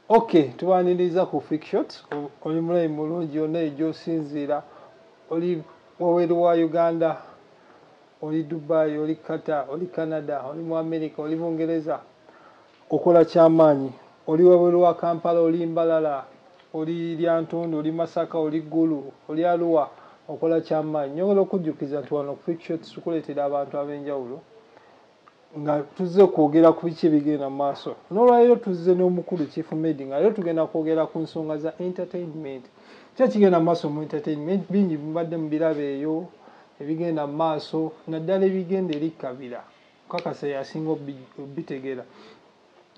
ok tubaniriza ku fikshot oli mulayi mulungi yonna egyosinziira oli waweru wa uganda oli dubai oli qatar oli canada oli mu america oli bungereza okola kyamaanyi oli waweru wa kampala oli mbalala oli lyantundu oli masaka oli gulu oli aluwa okola kyamaanyi nyongera okujjukiza nti wano ku fikshot tukuleetera abantu ab'enjawulo nga tuzze okwogera ku biki ebigenda mu maaso n'olwaleero tuzze n'omukulu chief made nga leero tugenda kwogera ku nsonga za entertainment ki ekigenda mu maaso mu entertainment bingi mubadde mu birabo eyo ebigenda mu maaso naddala ebigenda eri kabira kakasa yasinga obitegeera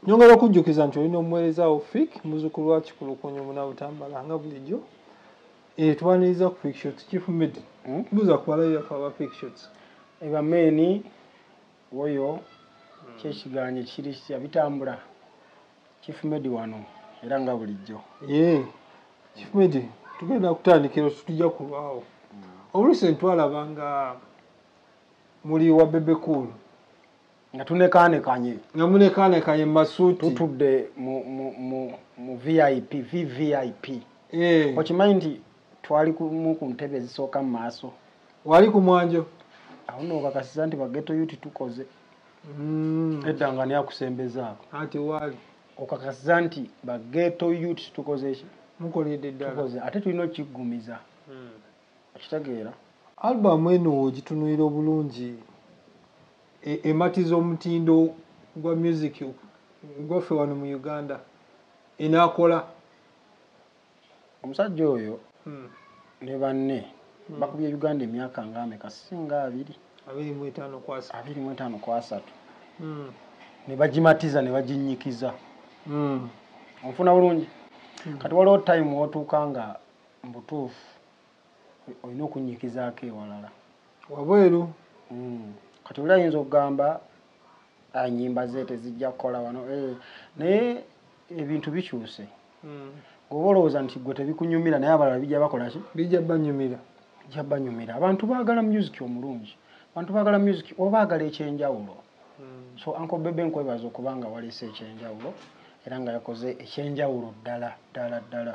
nyongera okujjukiza nti olina omuweereza wo fik muzukulu wa kikulukunyu munabutambala nga bulijjo Eh twaniriza ku fake shots chief med. Hmm? Buza kwa la ya kwa fake shots. Eba meni oyo hmm. kye kiganye kiri kya bitambula. Chief med wano era nga bulijjo. Eh chief med tugenda kutandikira tutija kulwawo. Hmm. Obuluse ntwala banga muli wa bebe cool. nga tunekanekanye nga munekanekanye masuti tutudde mu mu mu mu vip vvip eh okimanyi nti twali ku mu ku ntebe ezisooka mu maaso wali ku mwanjo awo no bakasiza nti bageto yuti tukoze mm. edda nga ni akusembezaako ati wali okakasiza nti bageto yuti tukoze ki mukoledde ddala tukoze ate tulina okiggumiza mm. okitegeera albamu eno ogitunuira obulungi e, ematiza omutindo gwa music gwaffe wano mu uganda enakola omusajja oyo hmm. ne banne hmm. bakubye uganda emyaka ngaameka singa abiri abiri mu etaano ku asatu hmm. ne bagimatiza ne baginnyikiza onfuna bulungi kati waliwo time wotuuka nga mbutuufu olina okunnyikizaako ewalala wabweru hmm. kati oli ayinza okugamba enyimba ah, ze tezijja kukola wano eh, naye ebintu bikyuse hmm. goba olowooza nti gwe tebikunyumira naye abalala bijja bakolaki bijja banyumira bijja banyumira abantu baagala musiki omulungi abantu baagala musiki oba agala ekyenjawulo hmm. so anko bebe nkwebaza okuba nga waleese ekyenjawulo era nga yakoze ekyenjawulo ddala ddala ddala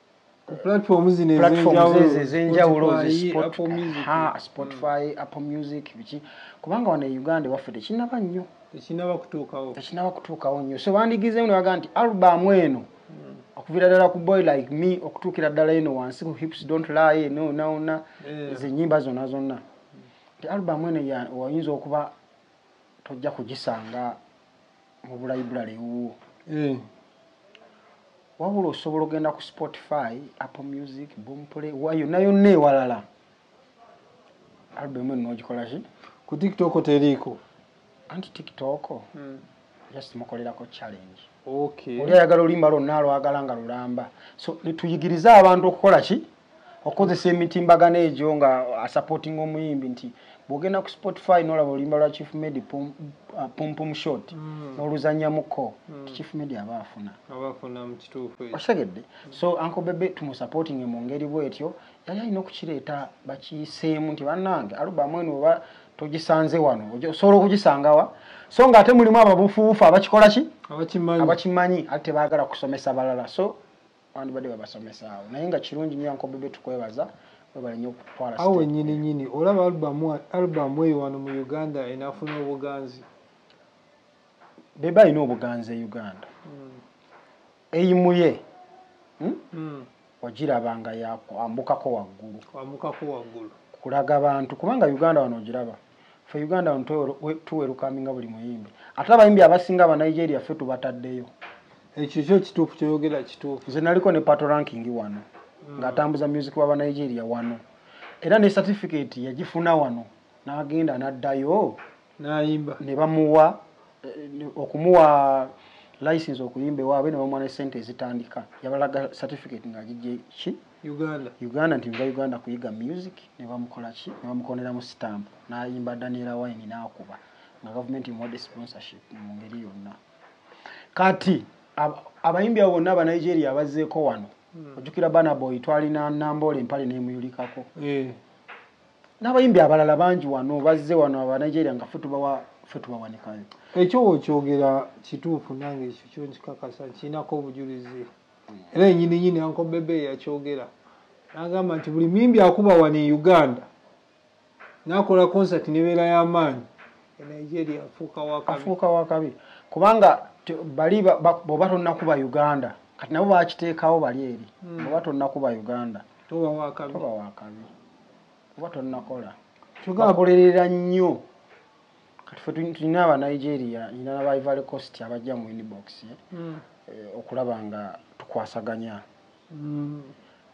platforms zino ezenjawulo spotify mm. apple music biki kubanga wano e uganda ewaffe tekinaba nnyo tekinaba kutuukawo tekinaba kutuukawo nnyo so bandigizeemu ne bagaa nti albamu eno okuvira ddala ku boy like me okutuukira ddala eno wansi ku hips don't lie nonawona eh. zenyimba zonna zonna nti albamu eno oyinza okuba tojja kugisanga mu bulayiburale ewuwo. Eeh wabula osobola ogenda ku Spotify, Apple Music, Boomplay, wa yonna yonna ewalala. Album eno ogikola ki? Ku TikTok teriiko. Anti TikTok hmm. just mukolerako challenge. Okay. Oli ayagala oluyimba lwonna alwagala nga lulamba. So tuyigirize abantu okukola ki? okozesa emitimbagano egyo nga asupporting omuyimbi nti bwogenda ku spotify nolaba oluyimba lwa chief medi pumpum uh, shot mm. noluzanyamuko mm. chief medi aba afuna osegedde so anko bebe tumusupportinge mu ngeri bwetyo yali alina okukireeta bakiyiseemu nti bannange alubamu eno oba togisanze wano osobola okugisangawa so nga ate mulimu ababufuufu abakikola ki abakimanyi ate tebagala kusomesa balala so Wandibadde babasomesa awo naye nga kirungi nnyo Uncle Bebe tukwebaza webale nnyo okutwala step. Awo wennyini nyini olaba album album eyo wano mu Uganda enafuna obuganzi. Bebe alina obuganzi e Uganda. Mm. Eyimuye. Hmm? Mm. Wagiraba nga yakwambukako waggulu. Kwambukako waggulu. Kulaga bantu kubanga Uganda wano ogiraba. fe uganda tuwerukaminga buli muyimbi ate abayimbi abasinga aba nigeria fe tubataddeyo ekyo kyo kituufu kyoyogera kituufu nze naliko ne pato ranking wano mm. ng'atambuza music waba nigeria wano era ne certificate yagifuna wano n'agenda n'addayo nayimba ne bamuwa eh, okumuwa license okuyimba ewaabwe ne bamuwa ne sente ezitandika yabalaga certificate ng'agijje ki Uganda. Uganda nti nva Uganda kuyiga music ne bamukola ki ne bamukoneramu stamp n'ayimba Daniel Wine n'akuba nga gavumenti emuwadde sponsorship mu ngeri yonna kati abayimbi abo bonna aba Nigeria abazzeeko wano hmm. ojjukira Banaboy twalina Namboole empale n'emuyulikako eh. n'abayimbi abalala bangi wano bazze wano aba Nigeria nga fe tubawa fe tubawanikayo ekyo okyogera kituufu nange ekyo kyo nkikakasa nkirinako obujulizi era enyini nyini anko bebe yakyogera nagamba nti buli muyimbi akuba wano e uganda nakola concert nebeera yamaanyi e nigeria afuuka wakabi kubanga bali boba tonakuba uganda kati nabo bakiteekawo bali eri hmm. boba tonakuba uganda toba wakabi oba tonakola kyogakolerera nnyo kati fe tulina aba nigeria ina naba ivory cost abajja mu inbox eh? mm. eh, okulaba nga tukwasaganya mm.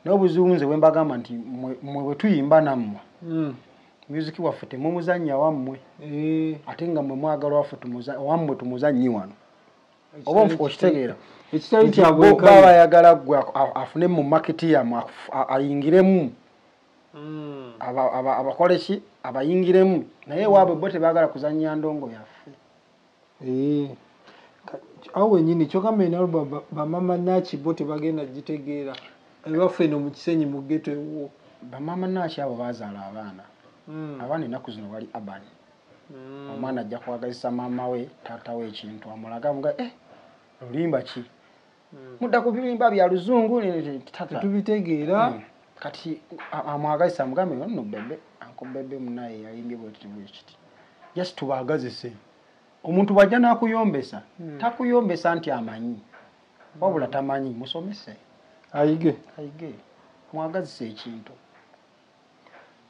naye obuzibu nze bwembagamba nti mwe bwetuyimba nammwe mm. music waffe temumuzanya wammwe eh. ate nga mwe mwagala waffe wammwe tumuzanyi wano oba okitegeera baba yagala gwe afune mu maketi yamu ayingiremu mm. abakoleki aba, aba abayingiremu naye ewaabwe mm. bo tebagala kuzanya ndongo yaffe eh, awo wenyini kyogamba enalo bamama naki bo tebagenda gitegeera ebaffe eno mukisenyi mugeto ewuwo bamama naki abo bazaala abaana mm. abaana enaku zino bali abani mm. omwana ajja kwagazisa maama we taata we ekintu amulaga muga eh, lulimba ki mudda ku bimba bya luzungu tetubitegeera hmm. kati amwagazisa amugambe no bebe anko bebe munaye yayimbye bwekiti bwekiti yes tubagazise omuntu bwajja nakuyombesa hmm. takuyombesa nti amanyi wabula tamanyi musomese ayige ayige mwagazisa ekintu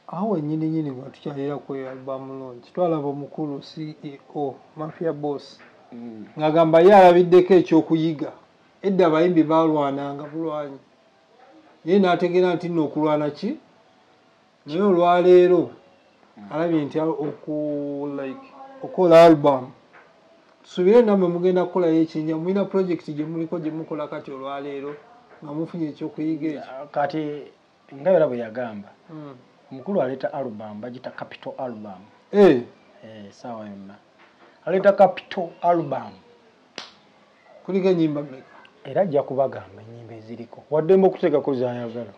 Awo wenyini nyini watukyalira ku album launch twalaba omukulu CEO Mafia Boss mm. ngagamba ye alabiddeko ekyokuyiga edda abayimbi balwananga bulwanyi naye nategeera nti nno okulwana ki naye olwaleero mm. alabye nti oku like okola album tusuubire namwe mugenda kukolayo ekinja mulina project gyemuliko gyemukola kati olwaleero nga mufunye ekyokuyiga ekyo kati nga era bwe yagamba hmm. omukulu aleeta album bagita capital album eh. Eh, saawa yonna aleeta capital album kuliko enyimba meka era ajja kubagamba enyimba eziriko waddemba okuteekako zayagala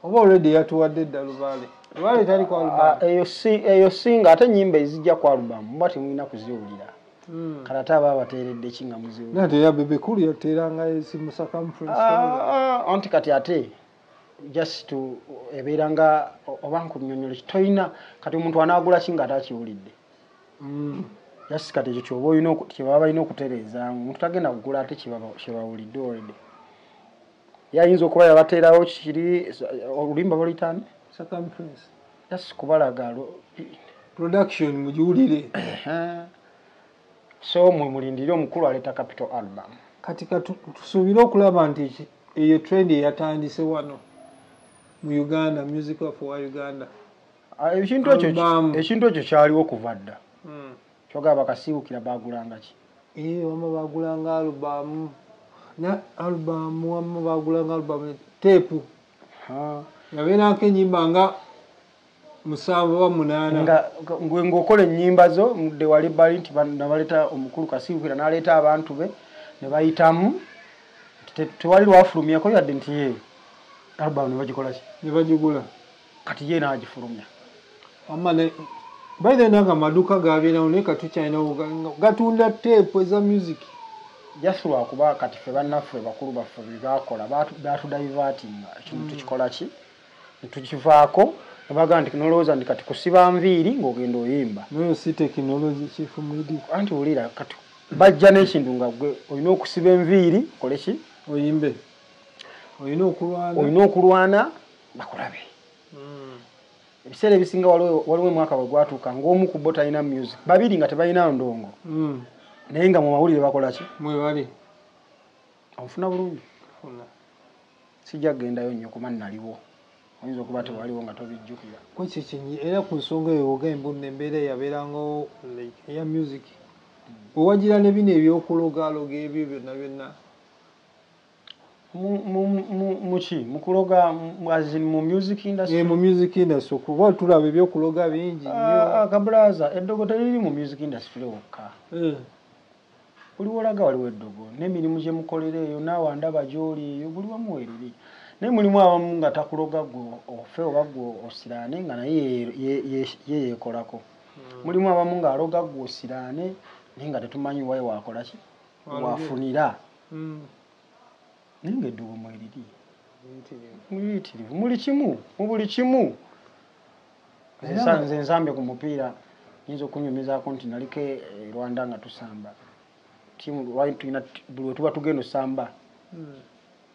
oba olredi yatuwadde edda lubaale lubaale tali ku album ah, eyo singa ate enyimba ezijja ku album muba temulina kuziwulira Hmm. kala ate aba abateeredde ki nga muzibu nate yabebekulu yateerangayo simusakamu ah, ah, anti kati ate just to ebeera nga oba nkunyonyole toyina kati omuntu anagula ki nga ate akiwulidde mm. just kati ekyo kyoba olina kyebaba balina okutereezaamu omuntu tagenda kugula ate kyebawulidde olredy yayinza okuba yabateerawo kiri olulimba baluyitani kubalaga production mugiwulire So mwe mulindire omukulu aleta capital album. Kati katusubire okulaba nti eyo trend eyatandise wano mu Uganda music of wa Uganda. Ah, ekintu ekyo ekintu ekyo kyaliwo kuva dda. Mm. Kyoga bakasiwukira bagulanga ki? Eh wama bagulanga album. Na album wama bagulanga album tape. Ha. Yabeera nke nyimba nga musanvu oba munaana nga ng'okola ennyimba zo mudde wali bali nti nabaleeta omukulu kasiwukira n'aleeta abantu be ne bayitamu tewali lwafulumyako yadde nti ye albamu ne bagikola ki ne bagigula kati ye n'agifulumya wamma by the nanga amaduuka gabeerawo naye katukyalinawo gatunda teepu eza music just lwakuba kati fe bannaffe bakulu baffe bebaakola baatudaivatinga ekintu mm. tukikola ki tukivaako nebaga nti nolowooza nti kati kusiba nviiri ngaogenda oyimba nayo si tekinologi chief midi anti wulira kati bajja n'ekintu nga gwe olina okusiba enviiri okole ki oyimbe olina okulwana olina okulwana bakulabe hmm. ebiseera ebisinga waliwo omwaka bwe gwatuuka ng'omu ku bo talina music babiri nga tebalina ndongo hmm. naye nga mu mawulire bakola ki mwebali onfuna bulungi sijja kugendayo nnyo kuba nnaliwo oyinza okuba mm. tewaliwo nga tobijjukira kwekyo kyenyi era ku nsonga eyo ogambo nno embeera yabeerangawo eya music mm. owagira ne bino ebyokulogaloga ebyo byonna byonna muki mukuloga azin mu music industry eh, mu music industry kuba tulaba ebyokuloga bingi ah, ah, kabulaza eddogo teriri mu music industry wokka eh. Buli wolaga waliwo eddogo nemirimu gyemukolera eyo naawe andaba gyoli eyo buli wamu weriri naye mulimu abamu nga takuloga gwe ofe oba gwe osiraane nga naye ye yekolako hmm. mulimu abamu nga aloga gwe osiraane naye nga tetumanyi waye wakolaki wafunira hmm. naye nga eddogo mweriri muyitirivu muli kimu mubuli kimu nze nzambe ku mupiira nyinza okunyumizaako nti naliko e rwanda nga tusamba tiimu lwali tulina buli wetuba tugenda osamba hmm.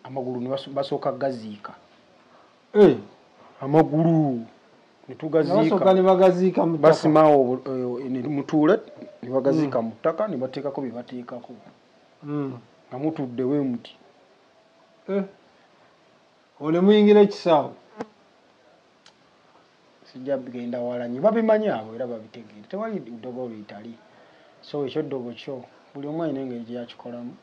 amagulu nebasooka gaziika eh, amagulu netugaziikabasimawo eh, mutuule nebagaziika hmm. mu ttaka nebateekako byebateekako hmm. nga mutuddewo emuti eh. Ole muyingira ekisaawe. Sijja bigenda wala nyo. Babimanyi abo era babitegeera. Tewali ddogo luyitali. So ekyo ddogo kyo. Buli omu alina engeri gye yakikolamu.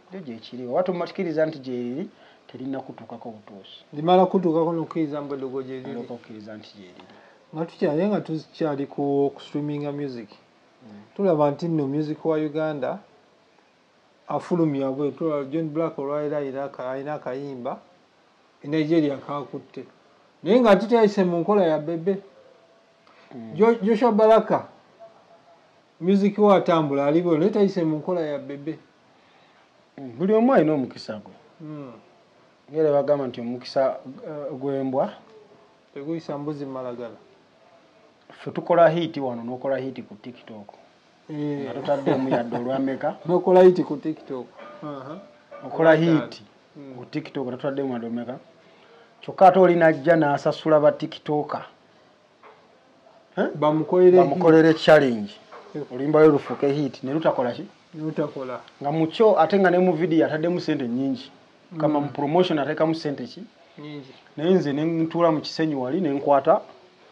Ekyo gye kiri. Oba tumatikiriza nti gyeriri terinna kutuukako butuusi. Limala kutuukako n'okukkiriza mbu eddogo gyeriri. Olyoka okkiriza nti gyeriri. Nga tukyali nga tukyali ku streaminga music. Mm. Tulaba nti nno music wa Uganda afulumya bwe tulaba John Black olwalero alina akayimba e Nigeria kakutte naye nga ate teyayise mu nkola ya bebe hmm. Joshua Baraka music wa atambula aliwo naye tayise mu nkola ya bebe hmm, buli omu alina omukisa gwe hmm. era bagamba nti omukisa eh, gwembwa teguyisa mbuzi malagala fe tukola hiiti wano nokola hiiti ku tiktok eh. nga totaddemu yadde olwameka nokola hiti ku tiktok okola hiti hmm. ku tiktok totaddemu yadde omeka kyokka ate oli najja n'asasula ba tiktoka eh? bamukolere challenge oluyimbayo lufuuke hiti ne lutakola ki lutakola nga mukyo ate nga ne mu vidiyo ataddemu sente nyingi kama mu promotion atekamu sente ki naye nze nentuula mu kisenyi wali nenkwata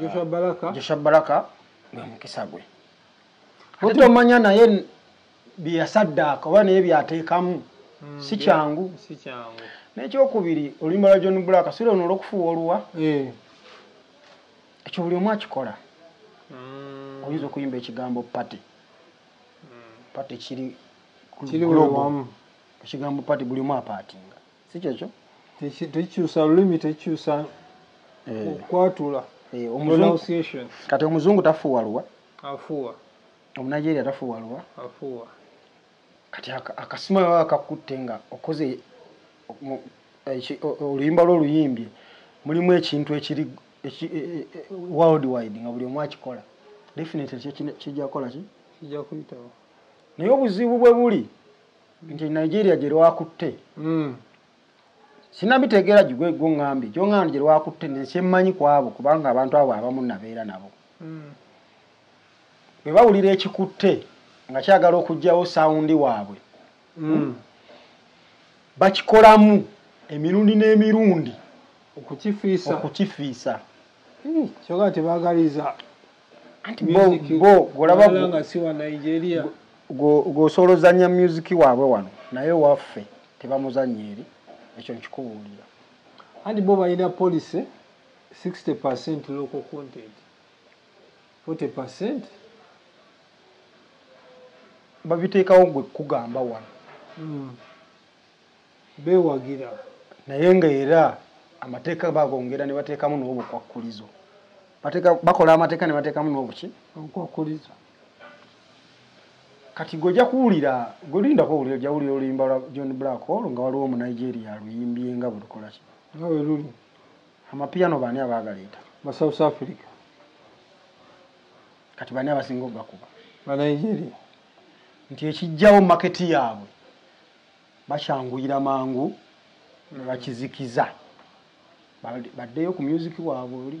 joshua baraka joshua baraka gwe mukisa gwe ate tomanya naye byeyasaddaaka oba naye byateekamu mm, si kyangu nekyokubiri oluyimba lwa john black si lwono olwokufuuwa oluwa eh. ekyo buli omu akikola mm. oyinza okuyimba ekigambo pate mm. pate kiri ekigambo pate buli omu apaatinga si kyekyo tekikyusa lulimi tekikyusa eh. okwatula eh, pronunciation kati omuzungu tafuuwa luwa afuuwa omunigeria tafuuwa luwa afuuwa kati akasima baba bakakutte nga okoze oluyimba lwo oluyimbye mulimu ekintu ekiri e, e, e, world wide nga buli omu akikola definitely kijja kukola ki kijja kuyitawo naye obuzibu bwe buli nti nigeria gye lwakutte hmm. sinabitegeera gigwe gwo ŋŋambye gyo ŋŋamba gye lwakutte nensi emmanyi ku abo kubanga abantu abo abamu nabeera nabo hmm. bwe bawulira ekikutte nga kyagala okugyawo sawundi waabwe hmm. bakikolamu emirundi n'emirundi okukifiisa okukifiisa kyoga tebagaliza anti bo music bo golaba wala nga si wa nigeria gwosobola ozanya music waabwe wano naye waffe tebamuzanya eri ekyo nkikubuulira anti bo balina policy 60 percent local content 40 percent babiteekawo gwe kugamba wano mm. bewagira naye nga era amateeka bagongera ne bateekamu n'obukwakkulizo bakola amateeka ne bateekamu n'obuki obukwakkulizo kati gweja kuwulira gwelindako wulira ojja wulira oluyimba lwa john black olwo nga waliwo omunigeria aluyimbye nga bwelukola ki nga weluli amapiyano baani abaagaleeta ba south africa kati baani abasinga ogakuba banigeria nti ekijjawo maketi yaabwe bakyanguyira mangu ne bakizikiza baddeyo ku myuziki waabwe oli.